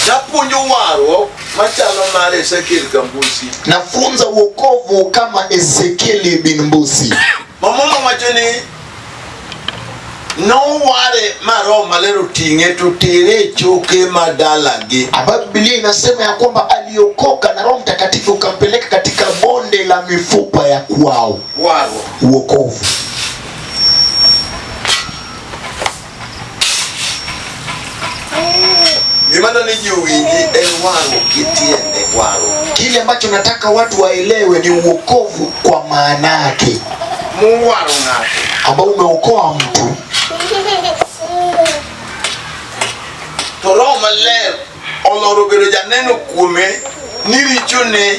Napuonjo warruok machalo mar Ezekiel Gambusi. Nafunza wokovu kama Ezekieli bin Mbusi. Mamono wacho ni noware ma Roho Maler oting'e to tere e choke ma dalagi. Ambayo Biblia inasema ya kwamba aliokoka na Roho Mtakatifu ukampeleka katika bonde la mifupa ya kwao. Warruok. Wokovu. Gima naliji uwingi en wang'o gi tiende wang'o. Kile ambacho nataka watu waelewe ni uokovu kwa maana yake Muwaro ng'ato. ambao umeokoa mtu To Roho Maler oloro bedo janeno kuome ni richone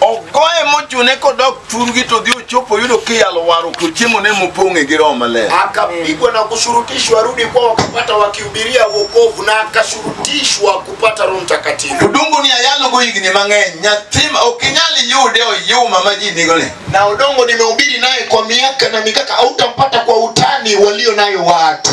ogoye mochune kodok thurgi to dhi ochopo yudo kiyalo waru to chiemo ne mopong'e gi roho maler. Akapigwa na kushurutishwa rudi kwa wakapata wakihubiria wokovu na akashurutishwa kupata Roho Mtakatifu. Udongo ni ayalo go higni mang'eny nyathi ok inyal yude oyuma ma ji nigo ni. Na udongo nimehubiri naye kwa miaka na mikaka, hautampata kwa utani walio nayo watu.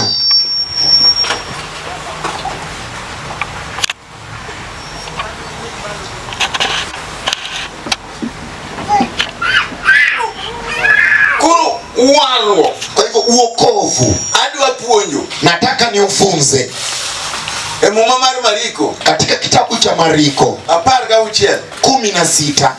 Koro warruok, kwa hivyo uokovu, adwa puonjo, nataka niufunze. E muma mar Mariko, katika kitabu cha Mariko apar gauchiel kumi na sita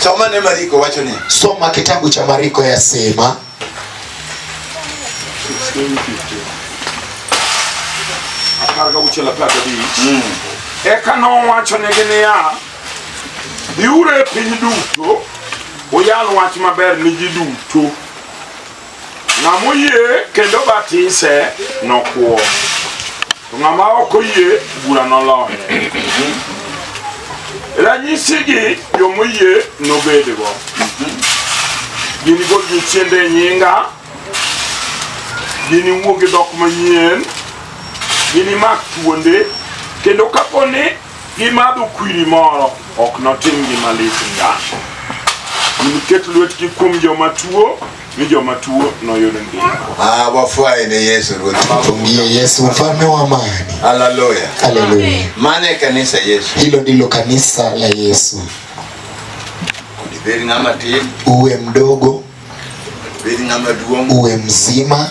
Soma ne Mariko wacho ni. Soma kitabu cha Mariko yasema apar gauchiel apar gabich mm. eka nowachonegi niya biuru e piny duto uyal wach maber ni ji duto Ng'ama oyie kendo batise nokwo, to ng'ama ok oyie bura noloye. Ranyisigi joma oyie nobedgo. Gin gol jochiende e nyinga, gin iwuo gi dhok manyien, gin imak thuonde, kendo kapo ni gimadho kwiri moro ok notim gima lit ngang'. Giniket lwetgi kuom joma tuo ni joma tuo noyud ngima. Ah, wafwaye ne Yesu Ruoth. Tumie Yesu mfalme wa amani. Haleluya. Haleluya. Mane kanisa Yesu. Hilo ndilo kanisa la Yesu. Kudiberi ngama tin. Uwe mdogo. Kudiberi ngama duong. Uwe mzima.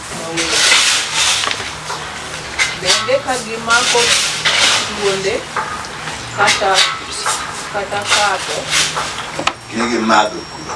Bende ka gimako thuonde kata kata kato Ne gimadho kuro.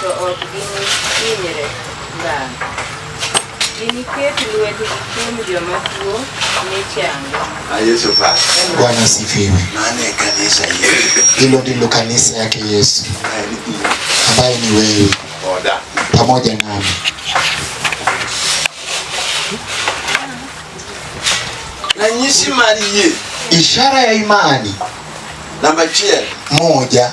To ok ginihinyre ngang'. Giniket lwetgi kuom joma tuo mi chango. Na Yesu basi. Bwana asifiwe. Maana ya kanisa yetu. Hilo ndilo kanisa yake Yesu ambaye ni wewe Oda. pamoja nami. Na nyisi mali ye. Ishara ya imani Namba chiel. moja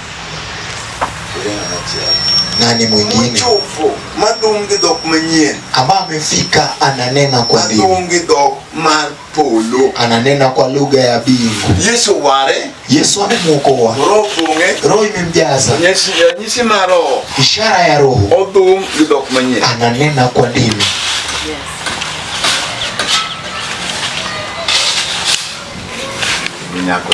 Nani mwingine Mchovu, madum gi dhok manyien, ambaye amefika ananena kwa mbingu, madum gi dhok mar polo. ananena kwa lugha ya mbingu. Yesu ware, Yesu amemwokoa, roho pong'e, roho imemjaza, nyisi nyisi mar roho, ishara ya roho, odhum gi dhok manyien. ananena kwa ndimi. Nyako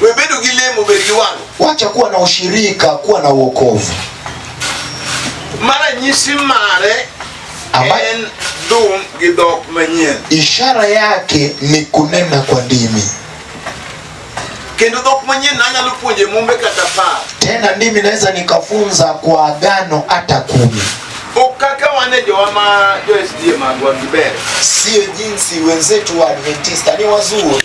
Webedo gi lemo, bed gi wang'. Wacha kuwa na ushirika, kuwa na wokovu. Mara nyisi mare en dum gi dhok manyien. Ishara yake ni kunena kwa ndimi. Kendo dhok manyien nanyalo puonje mumbe kata par. Tena ndimi naweza nikafunza kwa agano hata kumi. Ukaka wane jowa ma jo SDA magwa kibere. Sio jinsi wenzetu wa Adventista ni wazuri.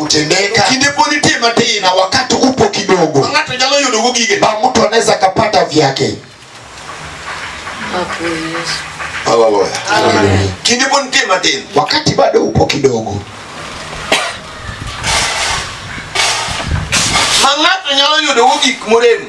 kutendeka. Kinde pod nitie matin. Na wakati upo kidogo. Ng'ato nyalo yudo go gige. Ba mtu anaweza kapata vyake. Hapo Yesu. Haleluya. Amen. Kinde pod nitie matin. Wakati bado upo kidogo. Ma ng'ato nyalo yudo go gik morem.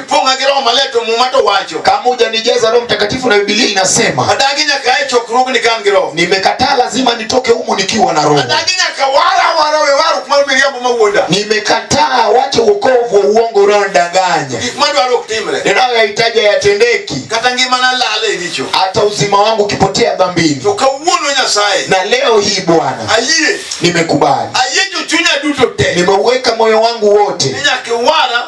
Funga gi Roho Maler to Muma to wacho. Kama hujanijaza Roho Mtakatifu na Biblia inasema. Adagi nyaka e chokruogni ka an gi Roho. Nimekataa lazima nitoke humu nikiwa na Roho. Adagi nyaka wara wara we waru kuma miriambo mawuonda. Nimekataa wache wokovu wa uongo unaodanganya. Gik madwaro ok timre. Ninayoyahitaji hayatendeki. Kata ngimana lal e richo. Hata uzima wangu ukipotea dhambini. To kawuono Nyasaye. Na leo hii Bwana. Ayie. Nimekubali. Ayie chunya duto te. Nimeuweka moyo wangu wote. Ninyake wara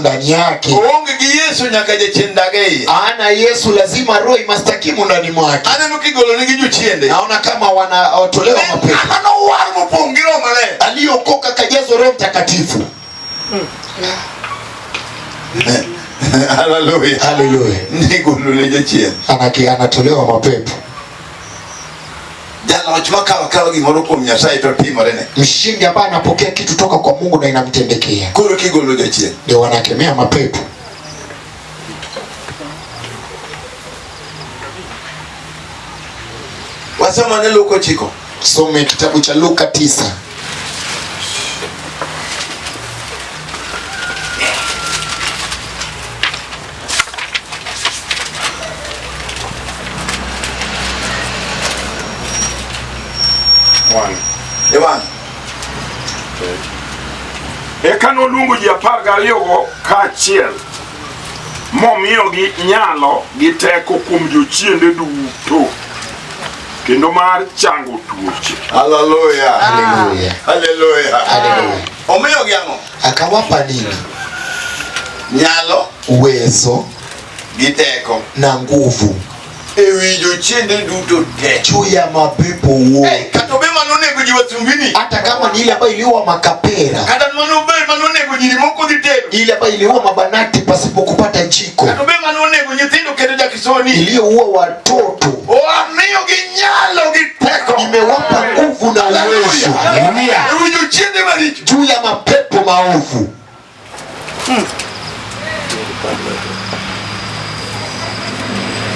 ndani yake. Oonge gi Yesu nyaka jachien dag e iye. Ana Yesu lazima roho imastakimu ndani mwake. Aneno kigolo nigi jochiende. Naona kama wanatolewa mapepo. Ama nowar mopong' gi roho maler. Aliokoka kajazwa Roho Mtakatifu. Hmm. Haleluya. Haleluya. Nigolole jachien. Anake anatolewa mapepo. Jaloch makawo kawa gimoro kuom Nyasaye to timorene. Mshindi ambaye anapokea kitu toka kwa Mungu na inamtendekea. Koro kigolo jachien. Ndio wanakemea mapepo. Wasoma ne Luka chiko. Some kitabu cha Luka tisa. Ewan. Eka noluongo ji apar gariyogo kaachiel momiyogi nyalo gi teko kuom jochiende duto kendo mar chango tuoche. Haleluya. Haleluya. Omiyogi ang'o? Akawapa nini? Nyalo, uwezo, gi teko na nguvu e wi jochiende duto te, juu ya mapepo wote. Hey, kata obe mano onego ji wasumbini, hata kama ni ile ambayo iliua makapera, kata mano obe mano onego ji moko dhi tedo, ile ambayo iliua mabanati pasipo kupata jiko, kata obe mano onego nyithindo kendo jakisoni iliyoua watoto, wamiyogi nyalo gi teko, nimewapa nguvu na uwezo juu ya mapepo maovu. Hmm.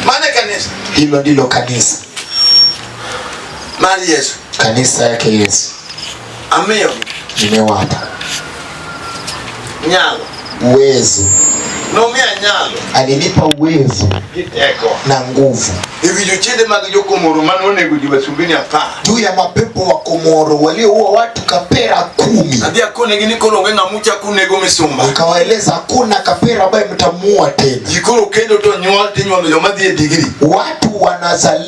Maana kanisa hilo ndilo kanisa mali Yesu, kanisa yake Yesu. Amiyo. Nimewapa. Nyalo. Uwezo. Nomia nyalo. Alinipa uwezo. Giteko. Na nguvu. Hivi jochende mag jokomoro mano onego ji wasumbini apar. Juu ya mapepo wa Komoro walioua watu kapera kumi. Adhi akone gini koro onge ng'amucha kunego misumba. Nikawaeleza hakuna kapera ambaye mtamuua tena. Jikoro kendo to nyuol tinyuolo joma dhi e digri. Watu wanazali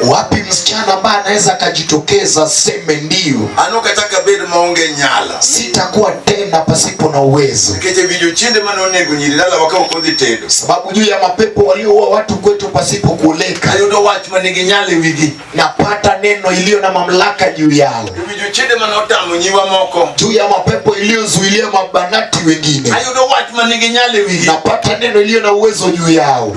Wapi msichana ambaye anaweza akajitokeza seme ndio, anokataka bedo maonge nyala, sitakuwa tena pasipo na uwezo, keje vijo chinde mane onego nyiri dala wakao kodhi tedo, sababu juu ya mapepo walioua watu kwetu pasipo kuoleka, ayudo wach manigi nyale wigi, napata neno iliyo na mamlaka juu yao, vijo chinde mane otamo nyiwa moko, juu ya mapepo iliyozuilia mabanati wengine, ayudo wach manigi nyale wigi, napata neno iliyo na uwezo juu yao.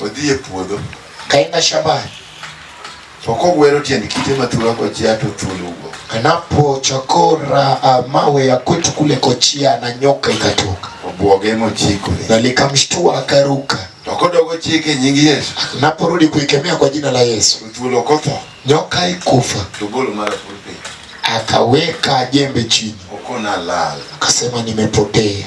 odhi e puodho kaina shambani to kogwero tiend kite mathura kochia to thuol wuok. Anapochakora uh, mawe ya kwetu kule kochia na nyoka ikatoka. Obwoge mochikore. Na likamshtua akaruka. To kodogo chike nying Yesu. Naporudi kuikemea kwa jina la Yesu. Thuol okotho. Nyoka ikufa. To golo mara pulpit. Akaweka jembe chini. Okona lala. Akasema nimepotea.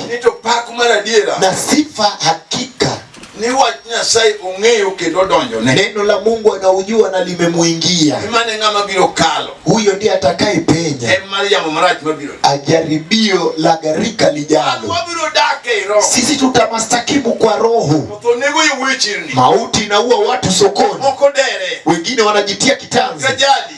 Nito pak mar adiera. Na sifa hakika ni wach Nyasaye ong'eyo kendo donjone. Neno la Mungu anaujua na limemuingia. Imane ng'ama biro kalo. Huyo ndiye atakaye penya. En mar yamo marach mabiro. Ajaribio la gharika lijalo. Wabiro dak e roho. Sisi tutamastakimu kwa roho. To nego iwechirni. Mauti inaua watu sokoni. Moko dere. Wengine wanajitia kitanzi. Kajali.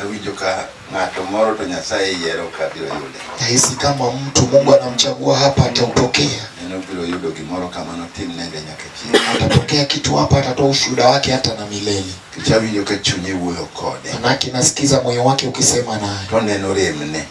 Awinjo ka ng'ato moro to Nyasaye yiero ka biro yude. Nahisi kama mtu Mungu anamchagua hapa ataupokea. Neno biro yudo gimoro kama notim nende nyaka chieng'. Atapokea kitu hapa atatoa ushuhuda wake hata na milele. Kichawinjo ka chunye wuoyo kode. Manake nasikiza moyo wake ukisema naye. To neno remne.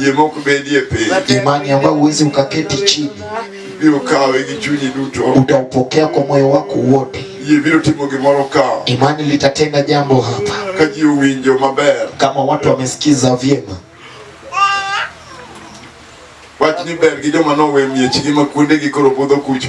Yie mok bedie piny. Imani ambayo huwezi ukaketi chini. Ibiro kawe gi chunyi duto. Utaupokea kwa moyo wako wote. Yie biro timo gimoro ka. Imani litatenda jambo hapa. Ka ji owinjo maber. Kama watu wamesikiza vyema. Wach ni ber gi joma nowe miechgi ma kuondegi koro budho kucho.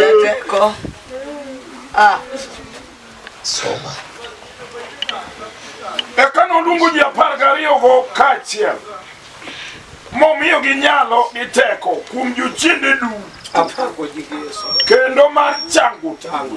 Jẹ́jẹ́ kọ́. Ah. Soma. Eka noluongo ji apar gariyogo kaachiel momiyogi nyalo gi teko kuom jochiende duto kendo mar chango chango